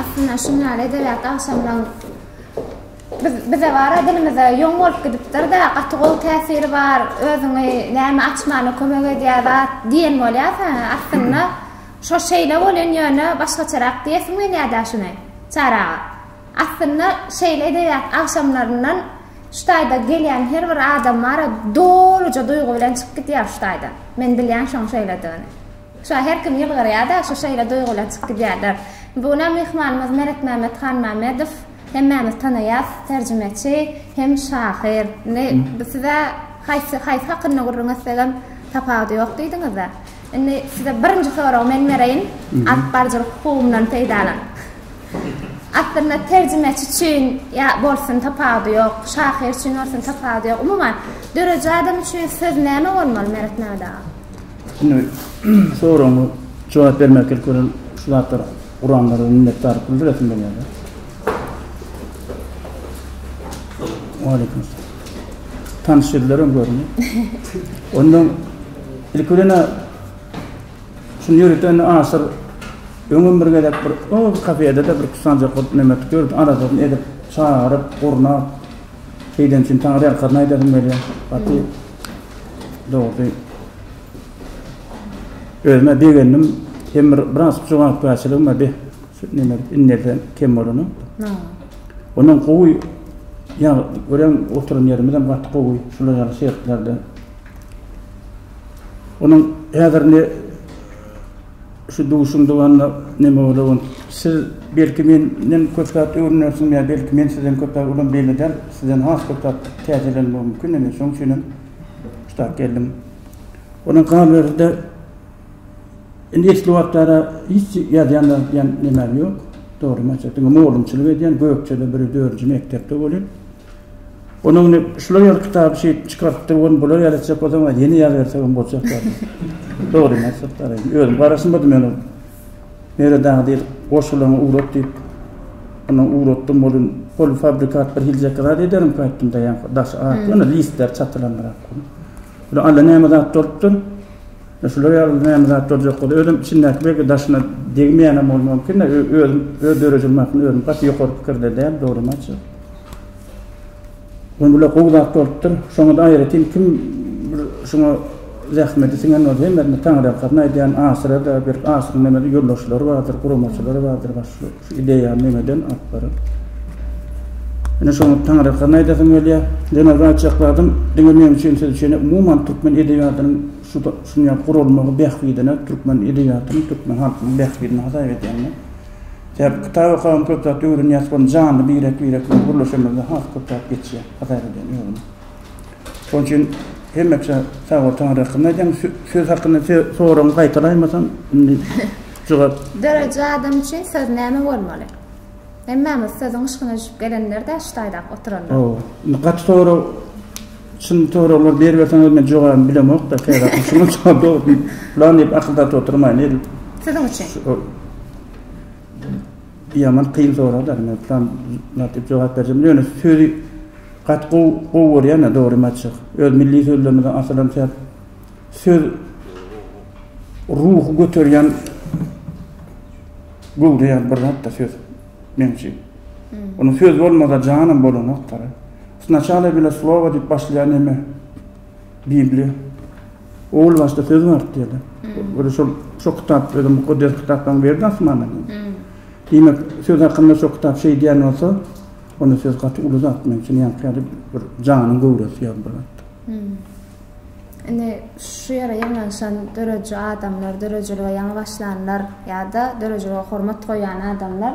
Aslynda şundan edebiyat agşamynyň biz bize bara dilimize ýoň bolup gidipdir-de, gaty gowy täsiri bar, özüňi näme açmana kömek edýär zat diýen bolýas. Aslynda şo şeýle bolýan ýöne başgaçarak diýesiň gelýär-dä şuny Çary aga. Aslynda şeýle-de ýat agşamlaryndan şu taýda gelýän her bir adam bara doluja duýgy bilen çykyp gidýär şu taýdan. Men bilýän şoň şeýledigini. Şa her kim ýylgyrýa-da şu şeýle duýgy bilen çykyp gidýärler. Bu günäm myhmanymyz Meretmämmet Hanmämmedow. Hemmämiz tanaýas, terjimeçi hem şahyr. Indi biz size haýsy haýsy hakynda gürrüň etsegem tapawudy ýok diýdiňiz-ä. Indi size birinji soragy men bereýin, alyp baryjylyk hukugymdan peýdalanyp. Aslynda terjimeçi üçin ýa bolsun tapawudy ýok, şahyr üçin bolsun tapawudy ýok. Umuman, dörüji adam üçin söz näme bolmaly, Meret Mehmet aga? Indi soragyňy jogap bermek ilki bilen şu zatlar guranlara minnetdarlyk bildiresim gelýär. Waleýkim salam. Tanyş ýüzler hem göründi. Ondan ilki bilen şuny ýöriten aşyr öňüm bir gezek bir o kafede de bir kusanjak bolup neme tutýardy. Aradan edip, çagyryp, gurnap. Şeýden üçin taňry ýalkasyny aýdasym gelýär. Gaty dogry. Özüme begendim. Hem bir biraz jogapkärçiligim bar. Nenelik inerde kem bolany. Ha. Ondan gowy ya görem oturan yerimiz hem gaty gowy şular ýaly şertlerde. Onuň häzir ne şu duşuň dowamynda neme bolan siz belki menden köp zat öwrenersiň ya belki men sizden köp zat ulan belli däl sizden has köp zat täzelenmegi mümkin indi şoň üçin hem şu geldim. Onuň galyberdi Indi esli wagtlara hiç ýazýanlar diýen nemem ýok. Dogrymy aýtjak, diňe mugallymçylyk edýän, Gökjede biri dördünji mekdepde welin, onuň indi şular ýaly kitaby şeýdip çykarypdyr, ony bular ýaly etjek bolsam, a ýene ýazabersegem boljak bar. Dogrymy aýtjak bar, indi özüm garaşmady men ol Meret aga diýip, goşgularyňy ugrat diýip, ondan ugratdym welin, polufabrikat birhiljek zat ederimkä aýtdym, daýanka, daşy ak, ýöne listleri çatylandyrak. Bula alla näme zat durupdyr? Şular ýaly näme zat durjak bolsa, özüm içindäki belki daşyna degmeýänem bolmam mümkin-de, özüm öz döredijiligim hakynda özüm gaty ýokary pikirde däl, dogrymy aýtjak. Ýöne bular gowy zat bolupdyr. Şoňa-da aýratyn kim bir şuňa zähmeti siňen bolsa, hemmesine taňryýalkasyn aýdýan, aşyra-da, belki aşyryň nämedir ýoldaşlary bardyr, guramaçylary bardyr, başga. Ideýa nemeden alyp baryp. Ine şoňa taňrykan aýdasym gelýär. Ýene zat çakladym. Diňe meň üçin siz üçin umuman türkmen edebiýatynyň şu dünýä gurulmagy bähbidine türkmen edebiýatynyň türkmen halkynyň bähbidine hasap edýän men. Sebäbi kitap okagam köp zat öwrenýäs bolum janly birek birek bilen gürleşemizde has köp zat geçýär hasap edýän özüm. Şonuň üçin hemmeçe sag bol Taňry hakynda aýdýan söz hakynda soragyňy gaýtalaýmasam indi jogap. Dörediji adam üçin söz näme bolmaly? Hemmämiz sözüň yşkyna düşüp gelenler-dä şu taýdap oturanlar. Hawa. Indi gaty sorag çyn soraglar beriberseňiz men jogabyny bilemok-da käwagt şuňa jogap dogry diýip plan diýip akyldaty oturmaýyn edil. Siziň üçin. Ýaman kyn soragdar men plan lat diýip jogap berjem ýöne sözi gaty gowy gowy görýän dogrymy aýtjak öz milli sözlerimize asylan şäp söz ruhy göterýän göwreýän bir zatda söz men üçin ony söz bolmasa janam bolanokdara sначала bile slowa diýip başlaýan neme Bibliýa. Owal başda söz bardy diýdi. Öle şol şo kitap özüm mukaddes kitapdan berdi asmandan. Diýmek, söz hakynda şo kitap şeý diýen bolsa, onda söz gaty uly zat men üçin ýa kädi bir janyň göwresi ýa bir zat. Indi şu ýere ýygnanyşan döredici adamlar, döredijilige ýaňy başlanlar ýa-da döredijilige hormat goýýan adamlar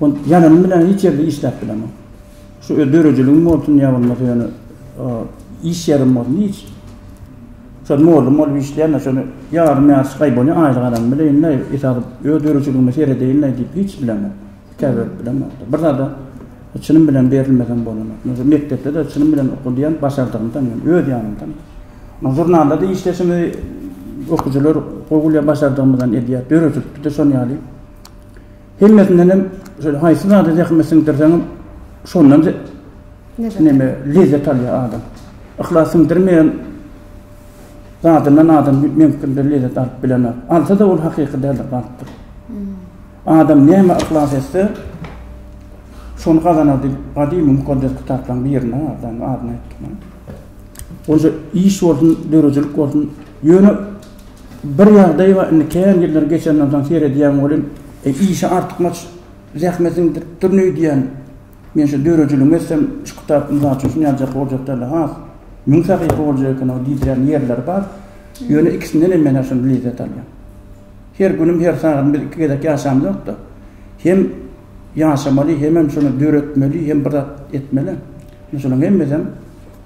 Ol ýazanym bilen hiç ýerde işläp bilemok. Şu öz döredijiligim bolsun ýa bolmasa ýöne iş ýerim bolsun hiç. Şol mugallym bolup işleýän-de şony ýarym ýaş gaý bolýan aýlyk alan bileýin-de esasy öz döredijiligime seredeýin-de diýip hiç bilemok. Hekaýa berip bilemok. Bir zada çynym bilen berilmesem bolanok. Meselem mekdepde-de çynym bilen oka diýen başardygymdan ýöne öz ýanymdan. Muň žurnalda-da işleşimi okyjylar gowy gülýär başardygymdan edýär. Döredijilikde-de şon ýaly. Hemmesindenem şeýle haýsy zada zähmet siňdirseňem şondan neme lezzet alýar adam. Yhlas siňdirmeýän zadyndan adam mümkindir lezzet alyp bilenok. Alsa-da ol hakyky däldir galypdyr. Adam näme yhlas etse şony gazanar diýip gadymy mukaddes kitaplaryň birinde bar, adyny aýtdym. Oýje iş bolsun, döredijilik bolsun, ýöne Bir ýagdaý bar, indi kän ýyllar geçenden soň seredýän welin, işe artykmaç zähmet siňdiripdir öýdýän. Men şu döredijiligimi etsem, şu kitap mysal üçin şuny ýazjak boljak däldi, has müň sahypa boljak eken-ow diýdirýän ýerleri bar. Ýöne ikisinden hem men-ä şonda lezzet alýan. Her günüm, her sagadymy biz iki gezek ýaşamzok-da. Hem ýaşamaly, hemem şony döretmeli, hem bir zat etmeli. Indi şolaryň hemmesem.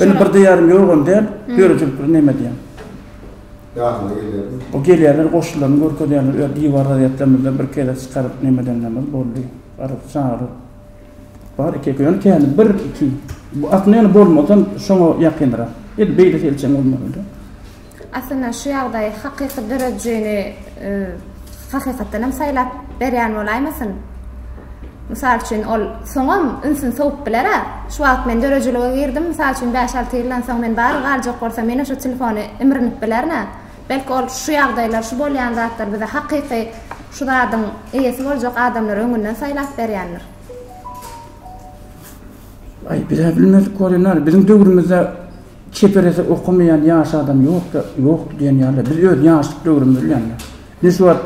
Indi bir diýýärin ýok hem däl, döredijilik bilen näme edýäň? Ýadyňa gelýärmi? O gelýärler, goşularyny görkezýärler, öz diwar gazýetlerimizde bir kele çykaryp näme edenlerimiz boldy. Arz, çagyryp. Bar eke-eke, ýöne käni bir, iki. Bu aslynda ýöne bolmasam şoňa ýakyndyrak. Edil beýle selçeň bolmazdy. Aslynda şu ýagdaý hakyky döredijini hakykatdan hem saýlap berýän bolaýmasyn? Mysal üçin, ol soňam ünsüni sowup biler-ä. Şu wagt men döredijilige girdim, mysal üçin, bäş-alty ýyldan soň men bar galjak bolsam, ýene şu telefony imrinip bilerin-ä. Belki, ol şu ýagdaýlar, şu bolýan zatlar bize hakyky şu zadyň eýesi boljak adamlary öňünden saýlap berýändir? Aý bizä bilmedik bolýa näme biziň döwrümizde çeperesi okamaýan ýaş adam ýokda ýokdy diýen ýaly biz öz ýaşlyk döwrümizde bilýänmi ine şu wagt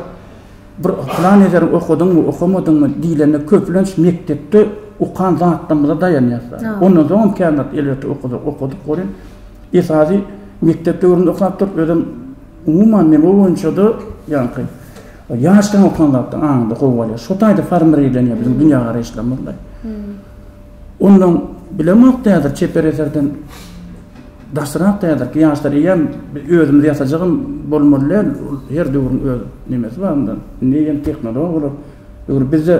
bir plan ederin okadyňmy okamadyňmy diýlende köplenç mekdepde okan zatlarymyza daýanýas ondan soň hem kän zat elbetde okadyk okadyk bolýa esasy mekdep döwründe okapdyr özem Umuman mewa boýunça-da ýaňky ýaşdan okan zatlar aňyňda gowy bolýar. Şo taýda formirlenýär biziň dünýägaraýyşlarymyzda. Ondan bilemok täzir çeper eserden daşrak täzirki ýaşlar eýýäm özümiz ýasajagam bolmaly däl. Her döwrüň öz nemesi bar onda. Indi eýýäm tehnolog bolar. Öwr bizde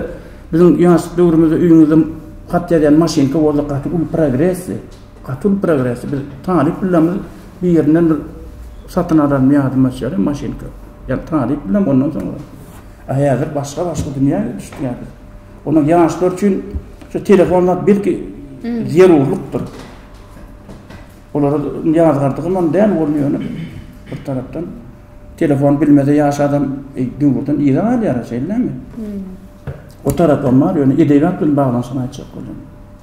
biziň ýaşlyk döwrümizde öýüňizde hat ýazýan maşynka boldy gaty uly progresdi. Gaty progres biz talyp bilemz birinden bir satyn alaryn ýadyma düşýär maşynka ýa talyp bilem ondan soň a häzir başga başga dünýä düşüp ýatyr onuň ýaşlar üçin şu telefon zat belki zerurlykdyr olara ýazgardygym hem däl ol ýöne bir tarapdan telefon bilmese ýaş adam e, döwürden ýere galýar şeýlemi o tarapam bar ýöne edebiýat bilen baglanyşygyny aýtjak boldum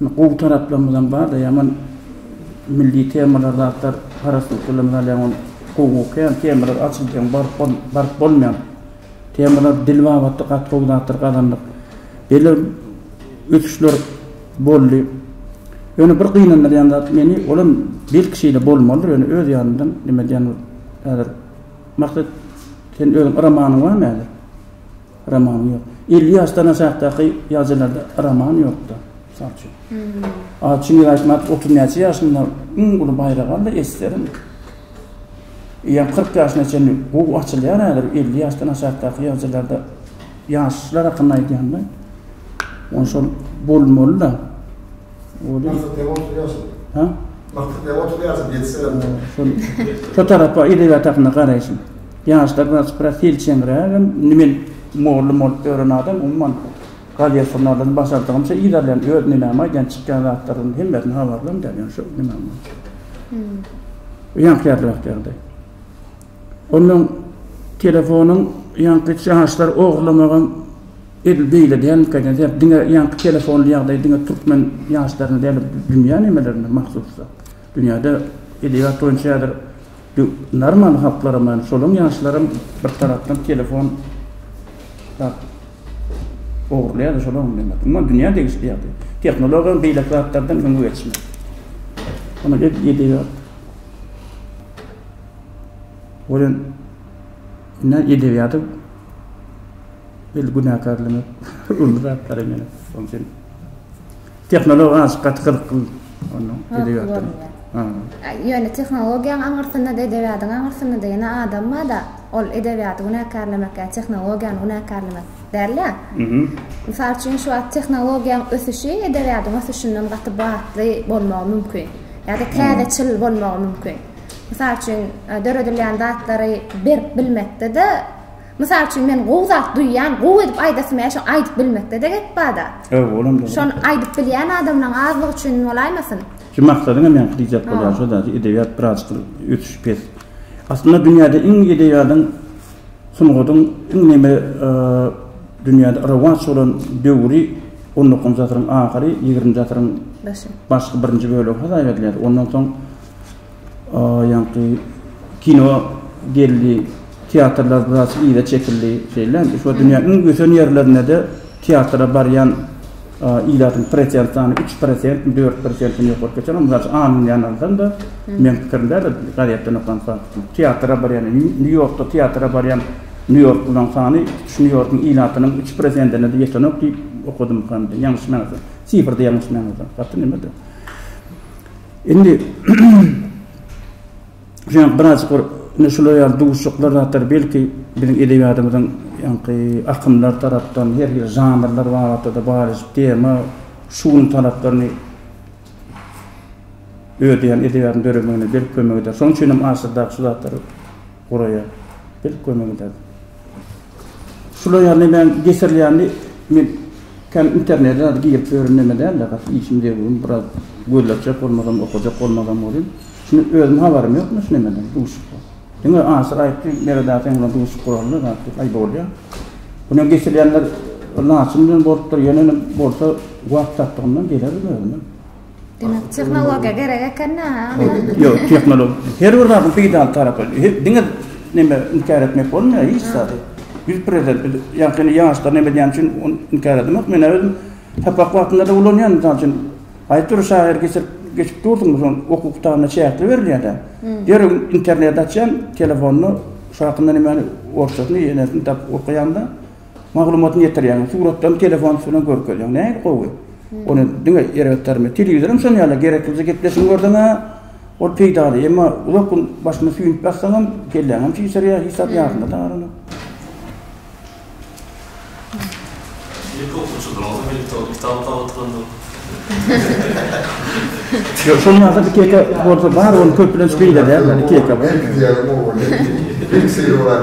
Gowy taraplarymyzam barda ýaman milli temalar zatlar parasatlylarymyz al ýaman gowy okaýan temalar açylsaň baryp baryp bolmaýan temalar dil babatda gaty gowy zatlar gazandyk beler ösüşler boldy ýöne bir gynandyrýan zat meni olam belki şeýle bolmalydyr ýöne öz ýanymdan neme diýen ol häzir maksat sen özüň yramagyň barmy häzir Roman ýok. Elli ýaşdan aşakdaky ýazyjylarda roman ýok-da, mysal üçin. A Çingiz Aýtmatow otuz näçe ýaşynda iň uly baýragy aldy, Esserin. Eýýäm kyrk ýaşyna çenli gowy açylýar häzir, elli ýaşdan aşakdaky ýazyjylarda, ýaşlar hakynda aýdýan-da, ony şol bolmaly-da. Kyrk däp otuz ýaşyna. Hä? Kyrk däp otuz ýaşyna ýetseler. Şo tarapa, edebiýat hakynda garaýşym. Ýaşlar biraz prosilçeňrägem, men mugallym bolup ýören adam, umuman, galyýa surnalary başardygymça yz alýan, öz nimämi aýdýan, çykýan zatlarymyň hemmesini habarlym däl, ýöne şo nimäm bolsa. Ýaňkyýardyr wagty ýagdaý. Onnoň telefonyň ýaňky ýaşlar ogurlamagam edil beýle dälmika eken, sebäp diňe ýaňky telefonly ýagdaý diňe türkmen ýaşlaryna däl, dünýä nimelerine mahsusdyr. Dünýäde edebiýat boýunça häzir Ýok, normal halklaram bar, şolaň ýaşlaram bir tarapdan telefon zat ogurlaýarlar, şolaň bilen zat. Umuman dünýä degişli ýagdaý. Tehnologiýa beýleki zatlardan öňe geçmeli. Munuň edebiýat Welin ine edebiýaty bil günäkärlemek uly zatlar ýene. Şoň üçin Tehnologiýa azajyk gaty gyzykly onda edebiýatdan. Ýöne tehnologiýaň aňyrsynda-da, edebiýatyň aňyrsynda-da ýene adam bar-da, ol edebiýaty günäkärlemek ýa tehnologiýany günäkärlemek däl-ä. Mysal üçin, şu wagt tehnologiýaň ösüşi edebiýatyň ösüşinden gaty batly bolmagy mümkin. Ýa-da täzeçil bolmagy mümkin. Mysal üçin, döredilýän zatlary berip bilmekde-de, Mysal üçin men gowy zat duýýan, gowy edip aýdasym gelýär, şony aýdyp bilmekde-de gep bar-da. Hawa, olam dogry. Şony aýdyp bilýän adamlaň azlygy üçin bolaýmasyn? Şu maksadyňa meňki diýjek bolýan şo dagy, edebiýat birazjyk ösüşi pes. Aslynda dünýäde iň edebiýadyň, sungadyň iň neme dünýäde rowaç bolan döwri on dokuzynjy asyryň ahyry, ýigrimiji asyryň başky birinji bölegi hasabyedilýär. Ondan soň. Ýaňky kino geldi, teatrlar biraz yza çekildi şeýlelämi? Şu wagt dünýäniň iň ösen ýerlerinde-de teatra barýan ilatyň prosent sany üç prosentmi, dört prosentmi ýokaryk geçen. Mysal üçin, Angliýa ýanynda meniň pikirim däl-de, gazetden okan faktymy, teatra barýan, Nýu-Ýorkda teatra barýan nýu-ýorklylaryň sany şu Nýu-Ýorkyň ilatynyň üç prosentine-de ýetenok diýip okadymkam, ýalňyşmaýansam, sifrda ýalňyşmaýansam. Gaty neme-de. Indi şuňa birazjyk bir ine şular ýaly duşuşyklar zatlar belki biziň edebiýatymyzyň ýaňky akymlar tarapdan her hili žanrlar babatda-da barlyşyk tema şu günüň talaplaryny ödeýän edebiýatyň döremegine belki kömek eder. Şonuň üçin hem asyrdaky şu zatlary Guraýa gelip görme giderdim. Şular ýaly nämäň getirilýänini men kän internete zat girip ýörün näme dälde gaty işim degwim biraz gözlegçek bolmazam okajak bolmazam bolýan. Şuny özüm habarym ýok muny şu nämeden duşup. Diňe Asyr aýtdy Meret aga sen bilen duşup guralyň zat diýip aý bolýa. Muny getirilýänler laçyn bilen bolupdyr ýöne bolsa wagt tapdygymdan gelerin özüm. Demek, tehnologiýa gerek eken-dä, onda? Ýok, tehnologiýa, her bir zadyň peýdaly tarapy bar. Heh, diňe neme, inkär etmek bolmaýar hiç zady. Biz prezident, biz ýakyn ýaşlar neme diýen üçin ony inkär edemok. Men-ä özüm sapak wagtynda-da ulanýan, mysal üçin, aýdyp dur, şahyr geçirip, geçip dursuň, biz ony okuw kitabynda çäkli berilýär-dä. Derrew interneti açýan, telefonda, şu hakynda nemäni, orsçasyny, ýenesini tapyp okaýaň-da, Maglumatyny ýetirýäňiz, suratdan telefon üstünden görkezýäň. Nähili gowy. Ony diňe erbetlermi? Telewizor hem şon ýaly, gereklije gepleşigiňi görseň-ä, ol peýdaly. Emma uzak gün başyny süýnüp ýatsaň hem, kelläň hem çişirýär, hiç zat ýadynda galanok. Ilki okuwçydyr, onsoň elektron kitap bar oturandyr. Ýok, şonuň ýaly zat iki-eke bolsa bar, ony köplenç beýgelýärler, iki-eke. Meň diýýänim o bolýar. Ilki seýrek bolýar.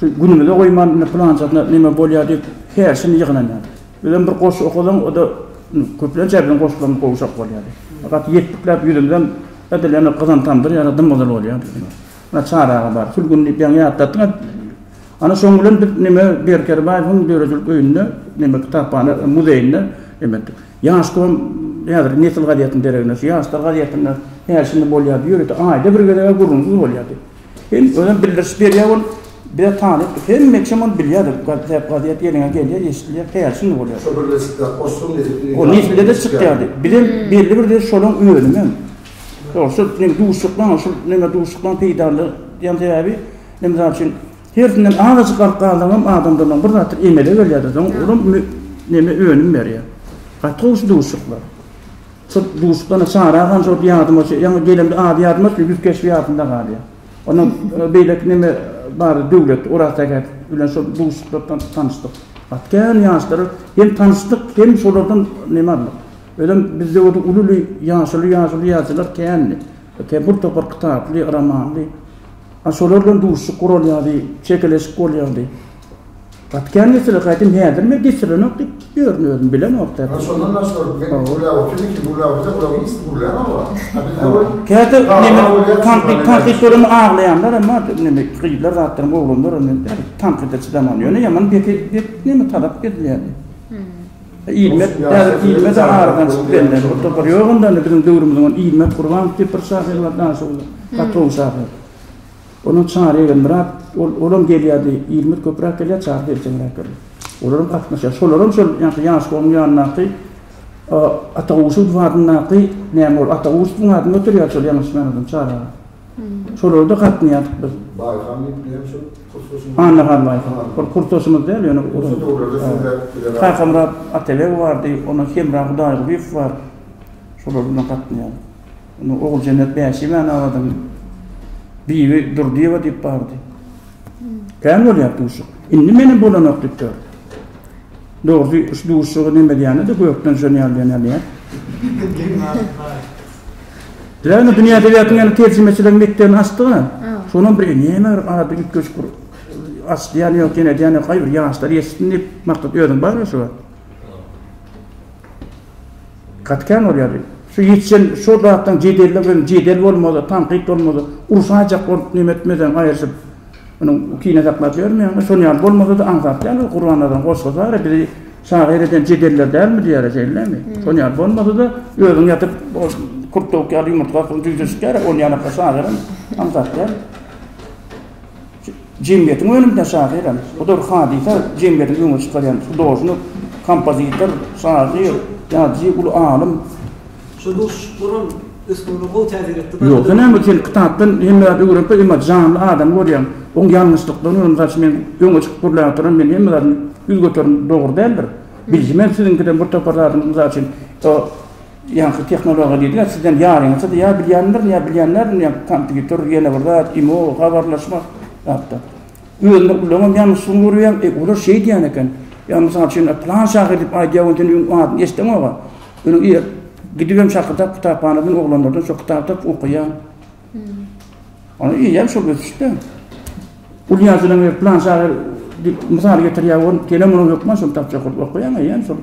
Şu günümize goýman, indi pylanjasynda neme bolýar diýip, herşini ýygnanýardy. Bizem bir goşgy okasaň, o-da köplenç biziň goşgularymyz gowşak bolýardy. Gaty ýetdikläp ýüzümizem edil ýene gyzan tamdyr ýaly dym-gyzyl bolýardy. Ýa Çary aga bar, şul gün diýip ýaňy ýatlatdyň-a. Ana şoň bilen biz neme Berk Kerbaýewiň döredijilik öýünde, neme kitaphana, muzeýinde neme etdik. Ýaş kom, häzirki Nesil gazetiniň dereginde, şu Ýaşlar gazetinde herşini bolýardy, ýörite aýda bir gezeg-ä gürrüňsiz bolýardy. Hem özem bildiriş berýär ol bize talyp hemme kim ony bilýär gazet gazet ýeriňe gelýär eşidilýär käri şindi bolýar. Şo birleşikler goşulan nesil. O nesilde de çykýardy. Bizem belli bir de şolaň önümi hem. Ýok şol neme duşuşyklan şol neme duşuşyklan peýdaly diýen sebäbi men mysal üçin hersinden azajyk alyp galsaňam adamdan bir zatlar emele gelýärdi soň olam neme önüm berýär. Gaty gowy şu duşuşyklar. Syrt duşdan Sara gan şol ýadyma düşýär. Ýaňy gelemde ady ýadyma düşdi, ýüz keşbi ýadymda galýar. Ondan beýleki neme bar, Döwlet Orazsähet bilen şol duşuşykda tanyşdyk. Gaty kän ýaşlara hem tanyşdyk, hem şolardan neme aldyk. Özem bizde o uly-uly ýaşuly ýaşuly ýazyjylar kändi. Kä bir topar kitaply, romanly. A şolar bilen duşuşyk guralýardy, çekeleşik bolýardy. Atýan geçirik aýdym häzir men geçirenok diýip ýörün özüm bilemok däl. Ýa şondan daş görüp men gürläp otyryn iki gürläp otyrda bular hiç gürlän oglan. A biz öwel. Käte neme tankyt tankyt göremok aglaýanlar hem bar neme gyzlar zatlaram oglanlaram hem bar tankyda çydaman ýöne ýaman beti bet neme talap edilýär. Ilmek häzir ilme de aradan çykyp bellän o topar ýok onda indi biziň döwrümiziň ilmek gurbanow diýip bir şahyr bar daşoguzly gaty gowy şahyr. Onuň Çary Egenmyrat, ol, olam gelýärdi, Ilmut köpräk gelýär, Çary seljeňräk gelýär. Olaram gatnaşýar. Şolaram şol ýaňky Ýaşulyň ýanyndaky Ataguşuw adyndaky, näme ol Ataguşuwyň adyny göterýärdi şol ýalňyşmaýan bolsam Çary aga. Şolara-da gatnaýardyk biz. Baýhan diýip bilen şol kursdaşymyz. Annahan Baýhan. Ol kursdaşymyz däl, ýöne ol. Şol döwürlerde siz de bilen. Kakamyrat Atabeg bardy, ondan Hemra Hudaýgulyýew bar. Şolar bilen gatnaýardyk. Onda Oguljennet Bäşimanabadyň Bibi Durdyýewa diýip bardy. Kän bolýar duşuk. Indi menem bolanok diýip dur. Dogrusy, şu duşugy neme diýýänini-de gökden şony ýaly diýen ýaly ýa. Ýagny dünýä edebiýatynyň ýene terjimeçilik mekdebini açdy-da. Şonam bir neme bir ady üýtgeşik bir açdy ýa ýok ýene diýýän ýok. Gaýybir ýaşlar ýetişsin diýip maksat özüň barmy şu wagt? Gaty kän bolýardy. Şu ýetişen şo zatdan jedelle bilen jedel bolmaz-a, tankyt bolmaz-a, urşaýjak bolup neme etmeden aýryşyp, munyň kine saklap ýörmeýäňmi? Şonuň ýaly bolmasa-da aňsat däl ol Gurbannazaryn goşgy bar-a, bizi şahyr eden jedeller dälmi diýer-ä, şeýlemi? Şonuň ýaly bolmasa-da özüň ýatyp ol kurt towuk ýaly ýumurtga astyna jüýje çykýar-a, ol ýanakda şahyryň aňsat däl. Jemgyýetiň önümine şahyram. Bu dür hadysa jemgyýetiň öňe çykarýan hudožnik, kompozitor, şahyr, ýazyjy, uly alym. Şu duşuşyklaram ösmegine gowy täsir etdi. Ýogsa näme sen kitapdan hemme zady öwrenip emma janly adamy görýäň. Oň ýalňyşlyklaryny görüň. Mysal üçin men öňe çykyp gürläp oturan men hemme zadyny ýüz göterin dogry däldir. Biljimen siziňkiden bir topar zadyň mysal üçin Ýaňky tehnologiýa diýdiňiz, sizem ýaryňyzydy ýa bilýändirin ýa bilýänlerdir ýa kompýuter ýene bir zat, imo, habarlaşmak zatda. Özüni ullaňam ýalňyşlygyny görýäň, e, olar şeý diýen eken, ýa mysal üçin plan şahyr diýip aýdýa we sen öň adyny eşdeňoga, öňe ir, gidibem şakyrdap kitaphanadan oglanlardan şo kitaby tapyp okaýaň. Ony eýýäm şol ösüşde. Uly ýazylan ýer plan şahyr diýip mysal getirýär, ony senem onuň hökman şony tapjak bolup okaýaň eýýäm şol.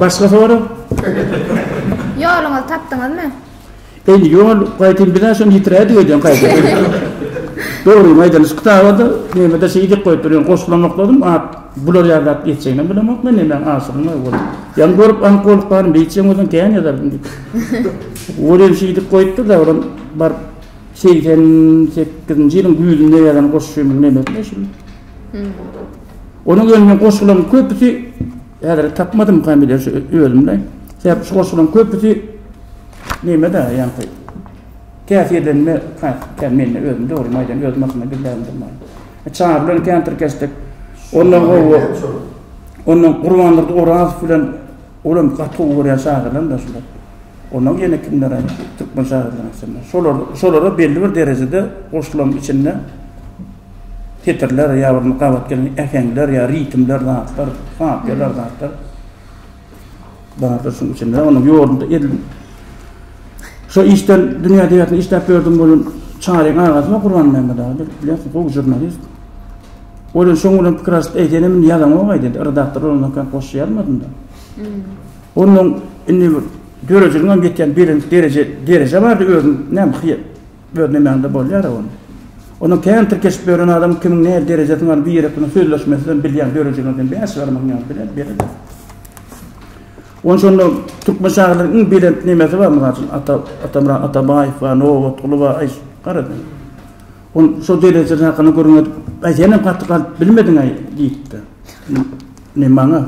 Başga sorag? Ýoluňyzy tapdyňyzmy? Indi ýol gaýtyn bizä şony ýitiräýdik öýdýän gaýdyp. Dogrymy aýdan şu kitabada näme-de şeýi dek goýup bilen goşulamokladym at bular ýazap geçjegini bilemok men näme aşygyň öý bolup. Ýaňy görüp aňk bolup barym beýtjeň özüň kän ýazardym diýip. Ol ýeri şeýdip goýupdyr da olam baryp Segsen sekizinji ýylyň güýzünde ýazan goşgymyň nemesine şul. Onuň ýöne goşgularyň köpüsi häzir tapmadym familiýa şu özümde. Sebäp şu goşgularyň köpüsi neme-de ýa-da täsirlenme kän mende özüm dogry maýdan özüm aslynda bilýändim bar. Çar bilen kän tirkeşdik. Ondan gowy. Ondan Gurbandurdy Orazow bilen Olam gaty gowy görýän şagyrlaryny da şular. Ondan ýene kimler aýtdy? Türkmen şagyrlarynyň içinde. Şolar, şolara belli bir derejede goşulan içinde setirler ýa bir gabat gelen äheňler ýa ritmler zatlar, kapiýalar zatlar. Bardyr şuň içinde. Onuň ýolunda edil. Şo işden dünýä edebiýatynda işläp ýördüm bolan Çaryň agasyna Gurbanmämmet aga bilýärsiň, gowy žurnalist. Ol şoň bilen pikir alyşyp, Eý, sen hem indi ýazaňog-aý, diýdi. Redaktor olam hakykat goşja ýazmadym-da. Onnoň indi bir döredijiligiň hem ýetýän belent dereje, dereje bardy, özüň näme hyýa, öz nemäňde bolýar-a onda. Onnoň kän tirkeşip ýören adamyň kimiň nähili derejesiniň bar, bir ýerek bilen sözleşmesiz hem bilýär, döredijiligini sen bäş ýarymyň ýaly bilen berede. Onuň üçin onda türkmen şahyrlarynyň iň belent nemesi bar, mysal üçin, Ata, Atamyrat Atabaýew bar, Nobatguly bar, aý, gara sen. Ol şo derejede hakyna gürrüň edip, Aý, senem gaty galyp bilmediň-aý, diýipdi. Ne maňa?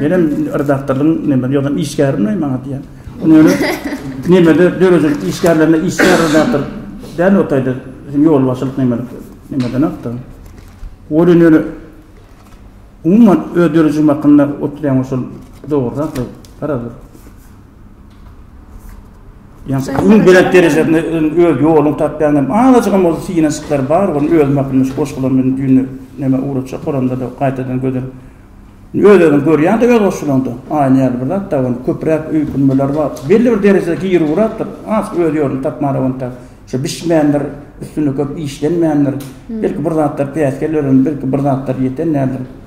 Menem redaktorlygyň neme, ýogsam işgärimleý maňa diýen. Ony öňe nemede dörejek işgärlerine işgär redaktor däl otaýdy. Bizim ýolbaşçylyk nemelik, nemeden akdy. Ol indi öňe umuman öz dörejigim hakynda oturýan bolsa dogrurak-laý, garaz bir. Yani ön belent derejesinde öz yolunu tapyan hem azajygam bolsa synanyşyklar bar. Onu özüm hakkında şu goşgularym bilen düýnde näme ugrajak oranda da gaýtadan gözüm öz-özüni görýän de öz goşgularynda. Aýna ýaly bir zat da onu köpräk öýkünmeler bar. Belli bir derejede gir ugrapdyr. Az öz ýolunu tapmara onta. Şu bişmändir, üstünde köp işlenmändir. Belki bir zatlar päsgel ören, belki bir zatlar ýeten nädir.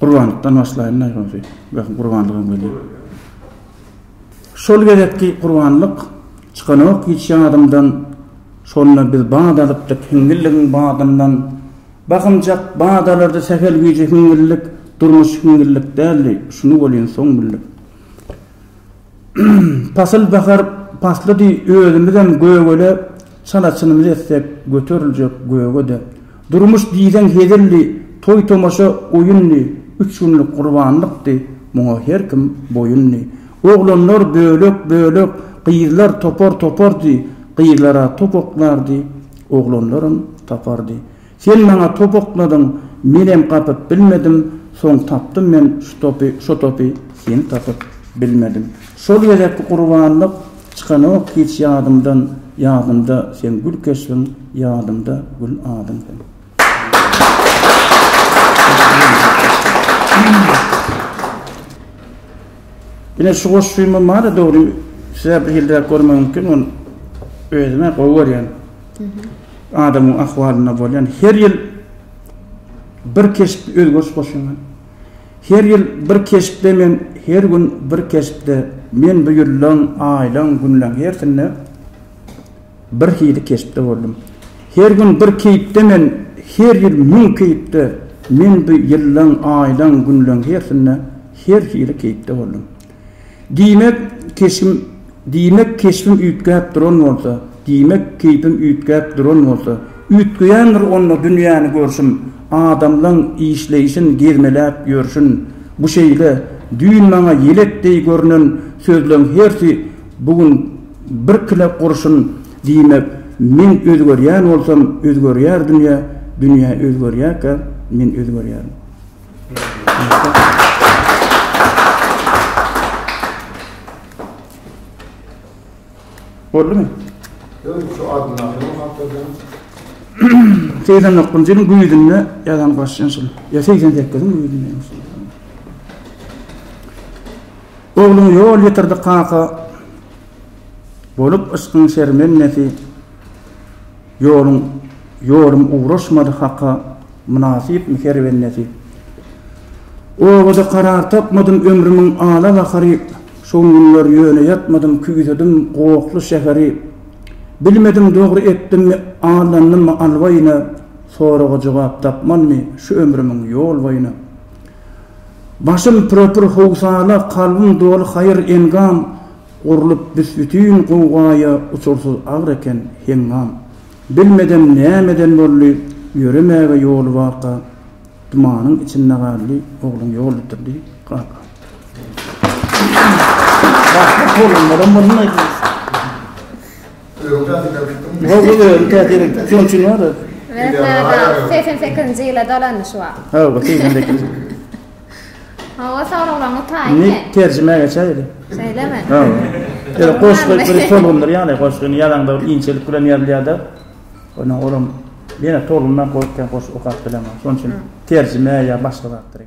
Gurbanlykdan başlaýyn-da ýogsa, belki gurbanlygam gelýär. Şol gezekki gurbanlyk çykanok hiç ýadymdan, Şonda biz bat alypdyk hiňňilligiň badyndan. Bakymjak bat alardy sähel gije hiňňillik, Durmuş hiňňillik däldi, şuny welin soň bildik. Pasyl bahar paslydy özümizem gögele çala çynymyzy etsek göteriljek gögede. Durmuş diýseň hezildi, toý tomaşa oýundy, üç günlük gurbanlykdy, muňa her kim boýundy. Oglanlar bölek bölek, gyzlar topar topardy, gyzlara top oklardy, oglanlaram tapardy. Sen maňa top oknadyň, menem gapyp bilmedim, soň tapdym men şu topy, şo topy seni tapyp bilmedim. Şol gezekki gurbanlyk çykanok hiç ýadymdan, ýadymda seň gül keşbiň, ýadymda gül adyň seň. Ine şu goşgymam bar-a dogry, size bir hilräk görmegi mümkin, ony özüm-ä gowy görýän. Adamyň ahwalynda bolýan her ýyl bir keşpde özgeriş goşýan. Her ýyl bir keşpde men her gün bir keşpde men bu ýyllaň, aýlaň, günleň hersinde bir hili keşpde boldum. Her gün bir keýpde men her ýyl müň keýpde men bu ýyllaň, aýlaň, günleň hersinde her hili keýpde boldum. Diýmek, keşbim Diýmek, keşbim üýtgäp duran bolsa, Diýmek, keýpim üýtgäp duran bolsa, Üýtgeýändir onda dünýäni görşüm, Adamlaň işleýşin, gezmeläp ýörşün. Bu şeýle, düýn maňa ýelek deý görnen Sözleň hersi bu gün birkile gurşun. Diýmek, men özgerýän bolsam, Özgerýär dünýä, dünýä özgerýärkä, Men özgerýärin. Boldumy? Ýöne şu adyndaky bu hatadan 89-njy ýylyň güýzünde ýazan başlaýan şol. Ýa 88-iň güýzünde. Ogluň ýol ýetirdi kaka bolup yşkyň şermendesi. Ýoluň ýolum ugraşmady haka mynasypmy her bennesi Obada karar tapmadym ömrümiň ala gahary Şo günler ýöne ýatmadym küýsedim gohly şäheri Bilmedim dogry etdimmi aldanymmy alwaýyna Soraga jogap tapmanmy şu ömrümiň ýol boýuna Başym pürepür howsala kalbym doly haýyr engam Gurlup büs-bütin gowgaýa uçursyz agyr eken, heňňam. Bilmedem nämeden boldy, ýöremäge ýoly barka, dumanyň içinde galdy, ogluň ýol bitirdi, kaka. Segsen sekizinji ýyla dolandy şu wagt. Hawa soraglaryňyz taýyn. Indi terjime geçäýeli. Şeýlemi? Hawa. Goşgy bir tolgundyr ýaly goşgyny ýazanda bir inçelik bilen ýazylýada. Ondan olam ýene tolgundan goşgy okap bilemok. Şonuň üçin terjime ýa başga zatdyr.